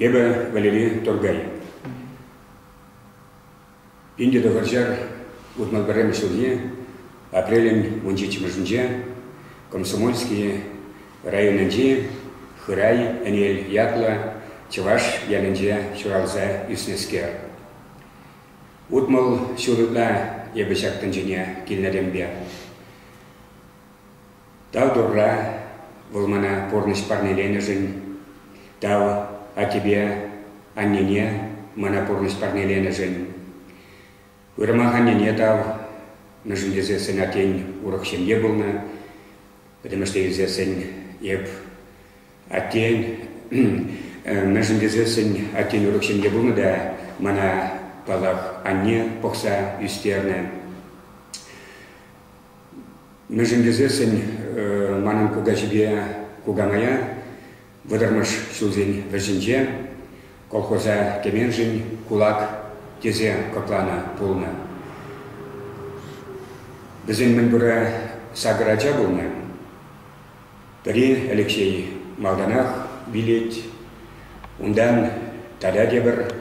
Эпӗ Валерий Торгаль. Ӗнтӗ тӑхӑрҫар утмӑл пӗрремӗш ҫулне апрелӗн вунҫиччӗмӗшӗнче Комсомольски районӗнчи Хырай Ӗнел ятлӑ чӑваш ялӗнче ҫуралса ӳснӗскер. Утмӑл ҫул ытла эпӗ ҫак тӗнчене килнӗренпе тав Турра, Вӑл мана пурнӑҫ парнеленӗшӗн, тав аттепе аннене мана пурнӑҫ парнеленӗшӗн, уйрӑмах аннене тав, мӗншӗн тесен сенатен урӑх ҫемье пулнӑ, пӗтӗмӗшле илсессӗн эп Аттен, мӗншӗн тесессӗн аттен урӑх ҫын те пулнӑ та мана, паллах, анне пӑхса ӳстернӗ. Мӗншӗн тесессӗн манӑн кукаҫипе кукамая вӑтӑрмӗш ҫулсен вӗҫӗнче колхоза кӗменшӗн кулак тесе кӑкланӑ пулнӑ. Вӗсен мӗн пурӗ сакӑр ача пулнӑ. Пӗри Алексей малтанах вилет, унтан Таля тепӗр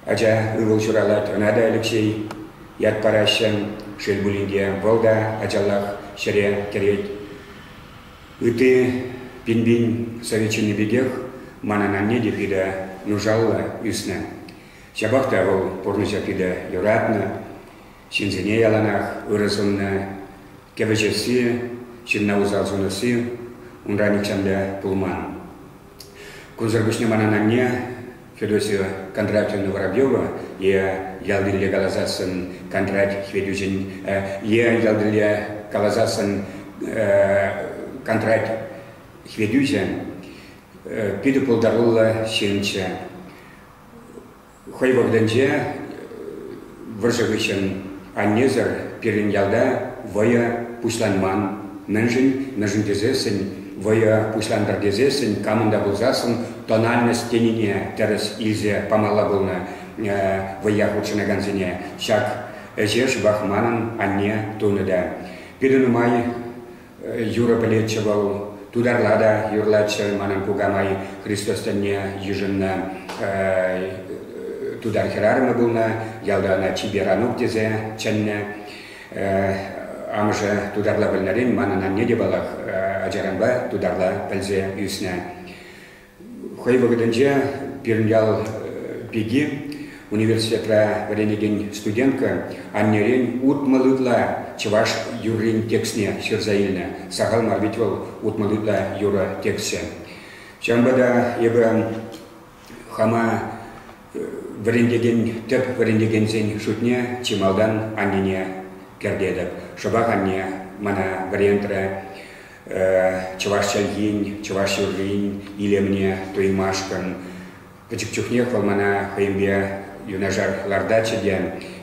ача ывӑл ҫуралать, ӑна та Алексей ят параҫҫӗ. Шел пулин те, вӑл та ачаллах ҫӗре кӗрет. Ытти пин-пин совет ҫынни пекех манӑн анне те питӗ нушаллӑ ӳснӗ. Ҫапах та вӑл пурнӑҫа питӗ юратнӑ. Ҫынсене яланах ырӑ суннӑ, кӗвӗҫесси, ҫынна усал сунасси унра нихҫанпа пулман. Кунсӑр пуҫне манӑн анне Федосия Кондратьевна Воробьева е ялтилле каласассӑн Кондрат Хветӳҫӗн е ялтилле каласассӑн Кондрат Хветӳҫӗ питӗ пултаруллӑ ҫынччӗ. Хӑй вӑхӑтӗнче вӑрҫӑ хыҫҫӑн аннесӗр пирӗн ялта вӑйӑ пуҫланман. Мӗншӗн? Мӗншӗн тесессӗн вӑйӑ пуҫлантӑр тесессӗн камӑн та пулсассӑн тональность тенине тӗрӗс илсе памалла пулнӑ вӑййа хутшӑнакансене. Ҫак ӗҫе шӑпах манӑн анне тунӑ та. Пирӗн нумай Юрӑ пӗлетчӗ вӑл, тутарла та юрлатчӗ манӑн кукамай Христос тӗнне йышӑннӑ тутар хӗрарӑмӗ пулнӑ, ялта ӑна чипер Анук тесе чӗннӗ. Амӑшӗ тутарла пӗлнӗрен манӑн анне те паллах ачаранпа тутарла пӗлсе ӳснӗ. Хӑй вӑхӑтӗнче пирӗн ял пики университетра вӗренекен студентка аннерен утмӑл ытла чӑваш юррин текстне ҫырса илнӗ. Сахал мар вӗт вӑл утмӑл ытла юрӑ текстсем. Ҫавӑнпа та эпӗ хама вӗрентекен, тӗп вӗрентекенсен шутне чи малтан аннене кӗртетӗп. Шӑпах анне мана вӗрентрӗ. чӑваш чӗлхин, чӑваш юррин илемне туймашкӑн. Пӗчӗк чухнех вӑл мана хӑйӗнпе юнашар лартатчӗ те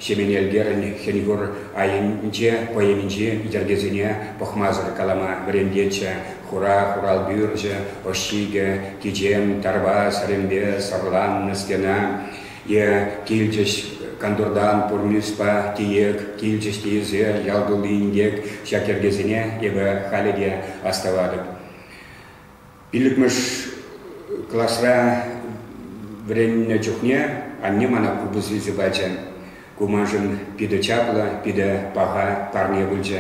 Ҫемен Элкерӗн хӗн-хур айӗнче поэминчи йӗркесене пӑхмасӑр калама вӗрентетчӗ. Хура хуралпӳрчӗ, ӑш ҫикӗ, кичем, тарпа, сӗрӗмпе сӑрланнӑ стена. Те килчӗҫ кантуртан пур мирспа тиек, килчӗҫ тиесе ял тулли инкек, ҫак йӗркесене эпӗ халӗ те астӑватӑп. Пиллӗкмӗш класра вӗреннӗ чухне анне мана купӑс илсе пачӗ. Ку маншӑн питӗ чаплӑ, питӗ паха парне пулчӗ.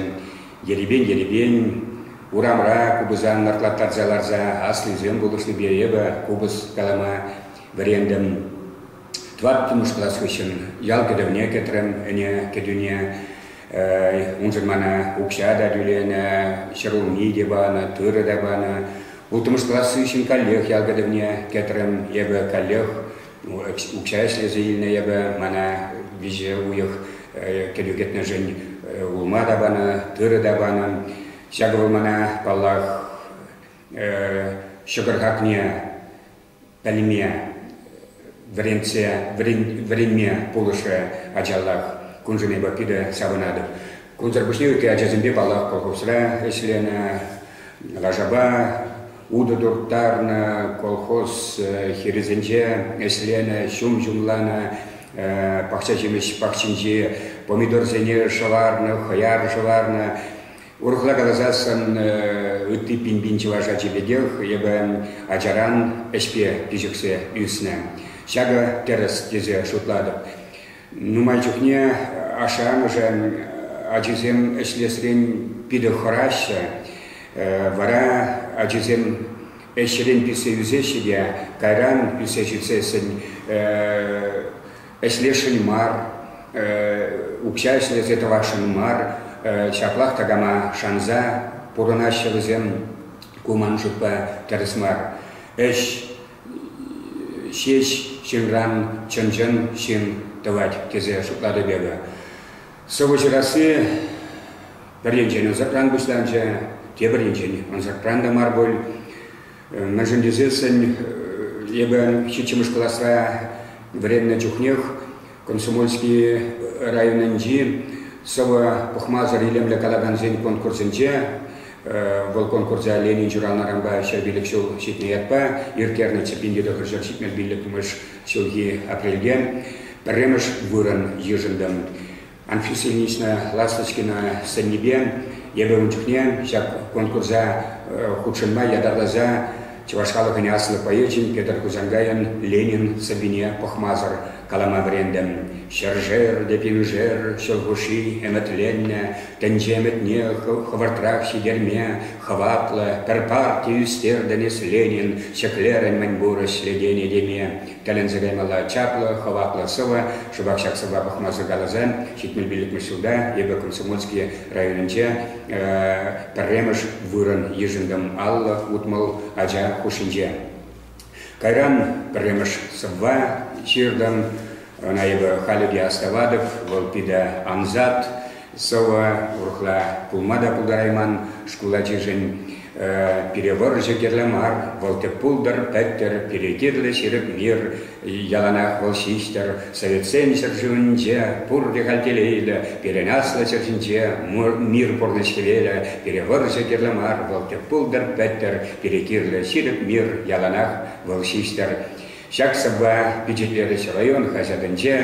Ерипен-ерипен урамра купӑса нартлаттарса ларса аслисем пулӑшнипе эпӗ купӑс калама вӗрентӗм. Тӑваттӑмӗш класс хыҫҫӑн ял кӗтӗвне кӗтрӗм ӗне кӗтӳне. Уншӑн мана укҫа та тӳленӗ, ҫӗрулми те панӑ, тырӑ та панӑ. Улттӑмӗш класс хыҫҫӑн каллех ял кӗтӗвне кӗтрӗм. Эпӗ каллех укҫа ӗҫлесе илнӗ эпӗ. Мана виҫӗ уйӑх кӗтӳ кӗтнӗшӗн улма та панӑ, тырӑ та панӑ. Ҫакӑ вӑл мана, паллах, ҫӑкӑр хакне пӗлме, вӗрентсе вӗренме пулӑшрӗ ачаллах. Куншӑнипа питӗ савӑнатӑп. Кунсӑр пуҫне ытти ачасемпе паллах колхозра ӗҫленӗ, лашапа утӑ турттарнӑ, колхоз э, хирӗсенче ӗҫленӗ, ҫум ҫумланӑ, э, пахча ҫимӗҫ пахчинчи помидорсене шӑварнӑ, хӑяр шӑварнӑ. Урӑхла каласан, ытти пин-пин чӑваш ачи пекех эпӗ ачаран ӗҫпе пиҫӗхсе ӳснӗ. Ҫакӑ тӗрӗс тесе шутлатӑп. Нумай чухне ашшӗ-амӑшӗн ачисем ӗҫлесрен питӗ хӑраҫҫӗ. Вара ачисем ӗҫрен писсе ӳсеҫҫӗ те кайран писсе ҫитсессӗн ӗҫлесшӗн мар, укҫа ӗҫлесе тӑвасшӑн мар, ҫаплах такама шанса пурӑнаҫҫӗ вӗсем. Ку ман шутпа тӗрӗс мар. Ӗҫ ҫеҫ ҫынран чӑн-чӑн ҫын тӑвать тесе шутлатӑп эпӗ. Сӑвӑ ҫырасси пӗр енчен ӑсӑкран пуҫланчӗ, тепӗр енчен ӑсӑкран та мар пуль. Мӗншӗн тесессӗн эпӗ ҫиччӗмӗш класра вӗреннӗ чухнех Комсомольски районӗнчи сӑвӑ пӑхмасӑр илемлӗ калакансен конкурсӗнче вӑл конкурса Ленин ҫуралнӑранпа ҫав пилӗк ҫул ҫитнӗ ятпа ирттернӗ Чӗппин тӑхӑр ҫӗр ҫитмӗл пиллӗкмӗш ҫулхи апрельте пӗрремӗш вырӑн йышӑнтӑм. Анфисинична Ласточкина сӗннипе эпӗ ун чухне ҫак конкурса хутшӑнма ятарласа чӑваш халӑхӗн аслӑ поэчӗн Петӗр Хусанкайӑн «Ленин» сӑввине пӑхмасӑр калама вӗрентӗм. Ҫӗршер те пиншер ҫул хушши ӗмӗтленнӗ тӗнче ӗмӗтне хӑвӑртрах ҫитерме хӑватлӑ пӗр парти ӳстертӗн эс Ленин, ҫӗклерӗн мӗнпур ӗҫлетене теме. Тӗлӗнсе каймалла чаплӑ, хӑватлӑ сӑвӑ. Шӑпах ҫак сӑвва пӑхма сӑвкаласа ҫитмен пиллӗкмӗш ҫулта эпӗ Комсомольски районӗнче пӗрремӗш вырӑн йышӑнтӑм аллӑ утмӑл ача хушшинче. Кайран пӗрремӗш сӑвва ҫыртӑм. Ӑна эпӗ халӗ те астӑватӑп. Вӑл питӗ ансат. сӑвӑ урӑхла пулма та пултарайман шкул ачишӗн. Пире вӑрҫӑ кирлӗ мар, вӑл тӗп пултӑр, пӗттӗр, пире кирлӗ ҫирӗп мир, яланах вӑл ҫиҫтӗр. Советсен ҫӗршывӗнче пурте халь телейлӗ, пирӗн аслӑ ҫӗр ҫинче мир пурнӑҫ хӗвелӗ. Пире вӑрҫӑ кирлӗ мар, вӑл тӗп пултӑр, пӗттӗр, пире кирлӗ ҫирӗп мир, яланах вӑл ҫиҫтӗр. Ҫак сӑвва пичетлерӗҫ район хаҫатӗнче.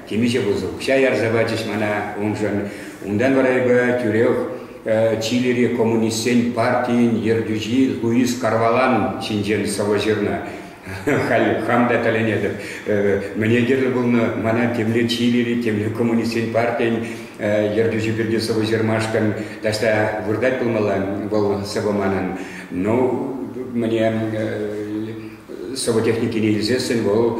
Темиҫе пусӑ укҫа ярса пачӗҫ мана уншӑн. Унтан вара эпӗ тӳрех Чилири коммунистсен партийӗн ертӳҫи Луис Карвалан ҫинчен сӑвӑ ҫырнӑ. Халь хам та тӗлӗнетӗп. Мӗне кирлӗ пулнӑ мана темле Чилири, темле коммунистсен партийӗн ертӳҫи пирки сӑвӑ ҫырмашкӑн таҫта выртать пулмалла вӑл сӑвӑ манӑн. Ну, мне сӑвӑ-техникине илсессӗн вӑл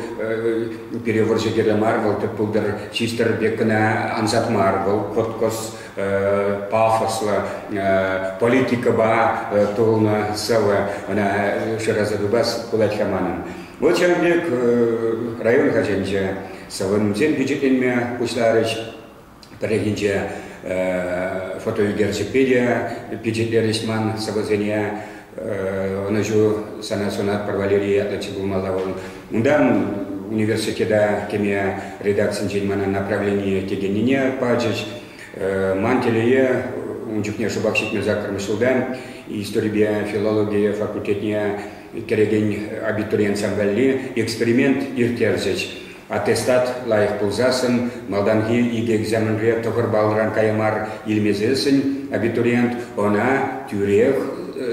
пире вӑрҫӑ кирлӗ мар, вӑл тӗп пултӑр чистӗр пек кӑна ансат мар, вӑл кӑткӑс, пафослӑ, политикӑпа тулнӑ сӑвӑ, ӑна шыраса тупас пулать-ха манӑн. Вӑл ҫавӑн пек район хашӗнче сӑвӑсем пичетленме пуҫларӗҫ. Пӗррехинче фотоӳкерчӗкпе те пичетлерӗҫ ман сӑвӑсене. Ӑнӑҫу сана сунатпӑр Валерий ятлӑ чи пулмалла вӑл. Унтан университета кӗме редакцинчен мана направление текеннине пачӗҫ. Ман телее, ун чухне шӑпах ҫитмӗл саккӑрмӗш ҫулта историпе филологи факультетне кӗрекен абитуриент валли эксперимент ирттерчӗҫ. Аттестат лайӑх пулсассӑн малтанхи икӗ экзаменре тӑхӑр баллран кая мар илмесессӗн абитуриент ӑна тӳрех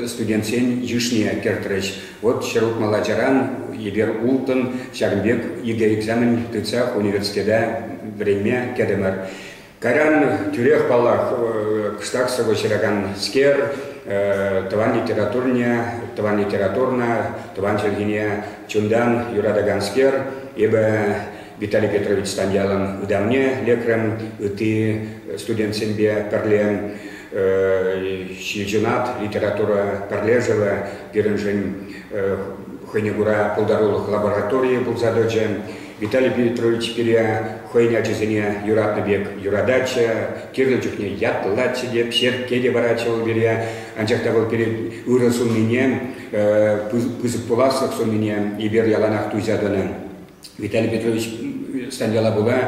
студентсен йышне кӗртрӗҫ. Вот ҫӗр утмал ачаран эпир улттӑн, ҫакӑн пек икӗ экзамен тытса университета вӗренме кӗтӗмӗр. Кайран тӳрех, паллах, кӑштах сӑвӑ ҫыраканскер тӑван литературне, тӑван литературӑна, тӑван чӗлхене чунтан юратаканскер. Эпӗ Виталий Петрович Станьялӑн ытамне лекрӗм, ытти студентсемпе пӗрле ҫилҫунат литература пӗрлешӗвӗ пирӗншӗн хӑйне кура пултарулӑх лабораторийӗ пулса тӑчӗ. Виталий Петрович пире хӑйӗн ачисене юратнӑ пек юрататчӗ, кирлӗ чухне ятлатчӗ те, черкке те паратчӗ вӑл пире. Анчах та вӑл пире ырӑ суннине, пысӑк пуласлӑх суннине эпир яланах туйса тӑнӑ. Виталий Петрович стан яла пула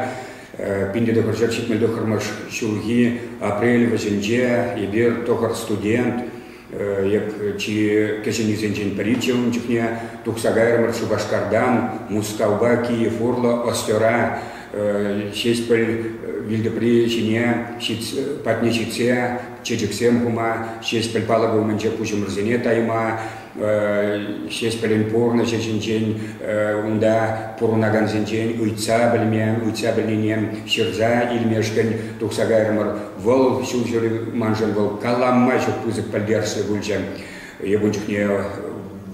пин тӑхӑрҫӗр ҫитмӗл тӑххӑрмӗш ҫулхи апрель вӗҫӗнче эпир тӑхӑр студент, Эк чи кӗҫӗннисенчен пӗри те ун чухне тухса кайрӑмӑр Шупашкартан Мускавпа Киев урлӑ Остера Ҫеҫпӗл вилтӑпри ҫине патне ҫитсе чечексем хума, Ҫеҫпӗл палӑкӗ умӗнче пуҫӑмӑрсене тайма, Ҫеҫпӗлӗн пурнӑҫӗ ҫинчен унта пурӑнакансенчен ыйтса пӗлме, ыйтса пӗлнине ҫырса илмешкӗн тухса кайрӑмӑр Вӑл ҫулҫӑри маншӑн вӑл калама ҫук пысӑк пӗлтерӗшлӗ пулчӗ. Эпун чухне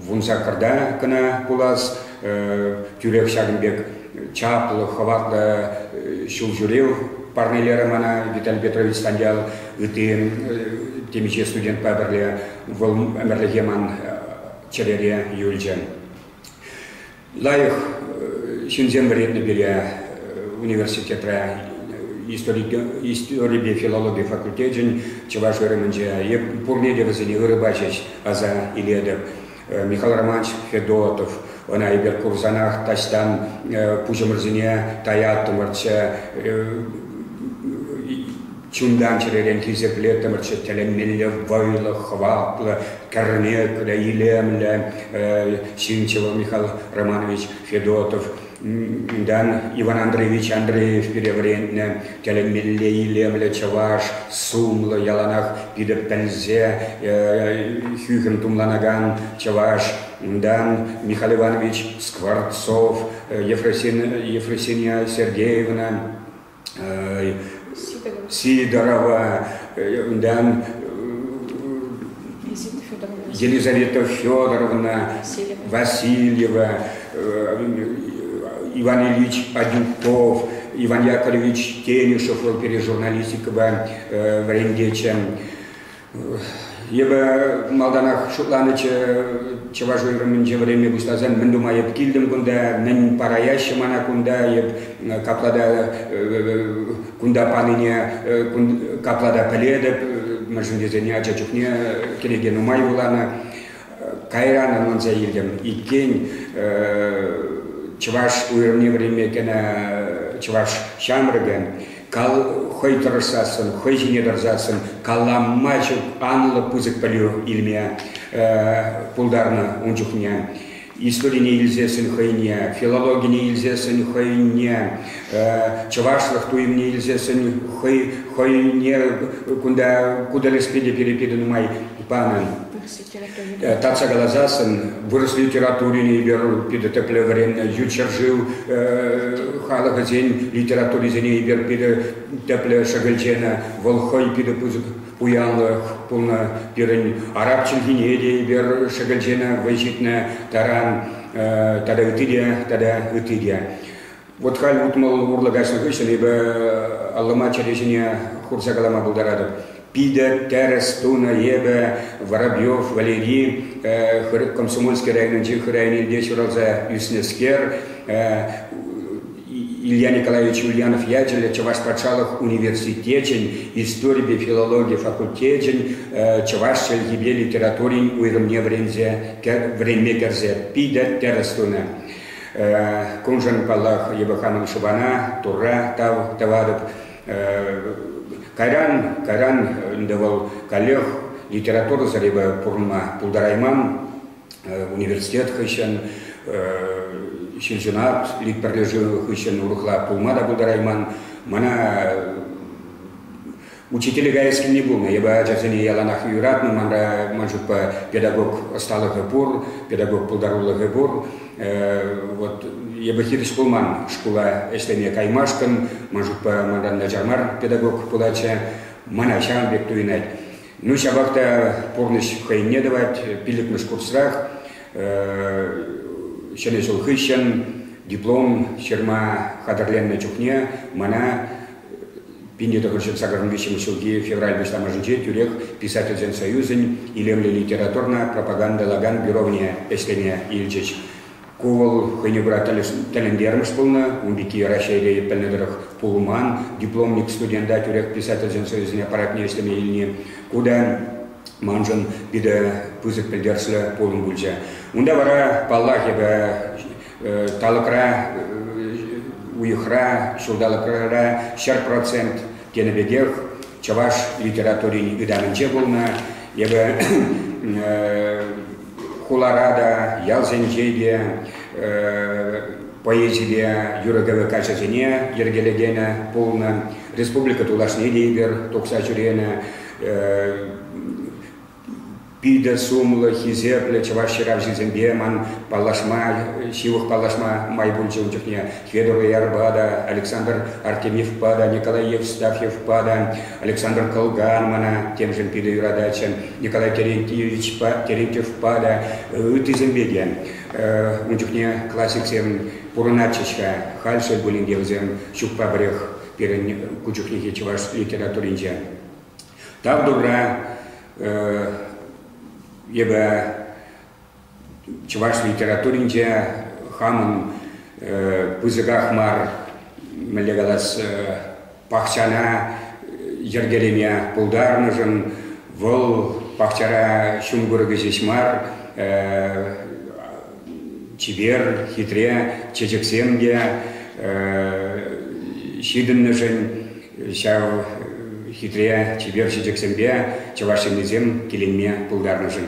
вун саккӑрта кӑна пулас, тӳрех ҫакӑн пек чаплӑ, хӑватлӑ ҫулҫӳрев парнелерӗ мана Виталий Петрович Станьял. Ытти темиҫе студентпа пӗрле вӑл ӗмӗрлӗхе ман чӗрере юлчӗ. лайӑх ҫынсем вӗреннӗ пире университетра историпе филологи факультечӗн чӑваш ырӑмӗнче пурне те вӗсене ырӑ пачӗҫ аса илетӗп. Михаил Романович Федотов, ӑна эпир курсанах таҫтан пуҫӑмӑрсене таяттӑмӑрччӗ Чунтан чӗререн хисепле тӑмӑрччӑ тӗлӗнмелле вӑйлӑ, хӑватлӑ, кӗрнеклӗ, илемлӗ Ҫынчӑва Михаил Романович Федотов. Унтан Иван Андреевич Андреев пире вӗрентнӗ тӗлӗнмелле илемлӗ чӑваш, сумлӑ, яланах питӗ пӗлсе хӳхӗм тумланакан чӑваш. Унтан Михаил Иванович Скворцов, Ефросинья Сергеевна Сидорова, унтан Елизавета Федоровна, Васильева, Иван Ильич Адюков, Иван Яковлевич Тенишев, ol пере журналистикӑпа вӗрентечӗ. Эпӗ малтанах шутланӑччӗ чӑваш уйрӑмӗнче вӗренме пуҫласан мӗн тума эп килтӗм кунта, мӗн параяҫҫӗ мана кунта, эп капла та кунта панине капла та пӗлетӗп, мӗншӗн тесен ача чухне кӗнеке нумай вуланӑ. Кайран ӑнланса илтӗм, иккен чӑваш уйрӑмне вӗренме кӗнӗ чӑваш ҫамрӑкӗ хӑй тӑрӑшсассӑн, хӑй ҫине тӑрсассӑн калама ҫук анлӑ пысӑк пӗлӳ илме пултарнӑ ун чухне. Историне илсессӗн хӑйне, филологине илсессӗн хӑйне, чӑвашлӑх туйӑмне илсессӗн хӑйне кунта ку тӗлӗшпе те перепета нумай панӑ. Татса каласан, вырӑс литературине эпир питӗ тӗплӗ вӗреннӗ, ют ҫӗршыв халӑхӗсен литературисене эпир питӗ тӗплӗ шӗкӗлченӗ. Вӑл хӑй питӗ пысӑк пуянлӑх пулнӑ. Пирӗн араб чӗлхине те эпир шӗкӗлченӗ, вӑй ҫитнӗ таран тата ытти те, тата ытти те. Вот халь утмӑл урлӑ каҫнӑ хыҫҫӑн эпӗ аллӑма чӗре ҫине хурса калама пултаратӑп. Питӗ тӗрӗс тунӑ эпӗ Воробьев Валери Комсомольски районӗнчи хыр айнелле ҫуралса ӳснӗскер Илья Николаевич Ульянов ячӗллӗ Чӑваш патшалӑх университечӗн историпе филологи факультечӗн чӑваш чӗлхипе литературин уйрӑмне вӗренме кӗрсе питӗ тӗрӗс тунӑ. Куншӑн, паллах, Любовь Хановна Шубана Турра тав тӑватӑп. Кайран, кайран ӗнтӗ вӑл каллех литература зрипе пурӑнма пултарайман. Университет хыҫҫӑн ҫилҫунат литпӗрлешӳ хыҫҫӑн урӑхла пулма та пултарайман. Мана Учителе каяс килни пулнӑ. Эпӗ ачасене яланах юратнӑ. Манра ман шутпа педагог ӑсталӑхӗ пур, педагог пултарулӑхӗ пур. Вот эпӗ хирӗҫ пулман шкула ӗҫлеме каймашкӑн. Ман шутпа манран начар мар педагог пулатчӗ. Мана ҫавӑн пек туйӑнать. Ну, ҫапах та пурнӑҫ хӑйне тӑвать. Пиллӗкмӗш курсрах ҫӗнӗ ҫул хыҫҫӑн диплом ҫырма хатӗрленнӗ чухне мана 1900 сакӑрӑн виҫҫӗмӗш ҫулхи февраль пуҫламӑшӗнче тӳрех Писательсен союзӗн илемлӗ литературна пропагандӑлакан бюровне ӗҫлеме илчӗҫ. Ку вӑл хӑйне кура тӗлӗнтермӗш пулнӑ, ун пекки Раҫҫейре пӗлнӗ тӑрӑх пулман. Дипломник студента тӳрех Писательсен союзӗн аппаратне ӗҫлеме илни ку та маншӑн питӗ пысӑк пӗлтерӗшлӗ пулӑм пулчӗ. Унта вара, паллах, эпӗ Талӑкра, уйӑхра, ҫулталӑкра ҫӗр процент тенӗ пекех чӑваш литературин ытамӗнче пулнӑ. Эпӗ хулара та, ялсенче те поэзипе юрӑ-кӗвӗ каҫӗсене йӗркелекенӗ пулнӑ. Республика тулашне те эпир тухса ҫӳренӗ. питӗ сумлӑ, хисеплӗ чӑваш ҫыравҫисемпе ман паллашма, ҫывӑх паллашма май пулчӗ ун чухне. Федор Ярпа та, Александр Артемьевпа та, Николай Евстафьевпа та, Александр Кылган мана темшӗн питӗ юрататчӗ, Николай Терентьевичпа, Терентьевпа та, ыттисемпе те. Ун чухне классиксем пурӑнатчӗҫ-ха, халь шел пулин те вӗсем ҫукпа пӗрех пирӗн ку чухнехи чӑваш литературинче. тав Турра, эпӗ чӑваш литературинче хамӑн пысӑках мар, мӗнле калас, пахчана йӗркелеме пултарнӑшӑн вӑл пахчара ҫум курӑкӗ ҫеҫ мар, чипер, хитре чечексем те ҫитӗннӗшӗн Ҫав хитре чипер ҫичӗксемпе чӑваш ҫыннисем киленме пултарнӑшӑн.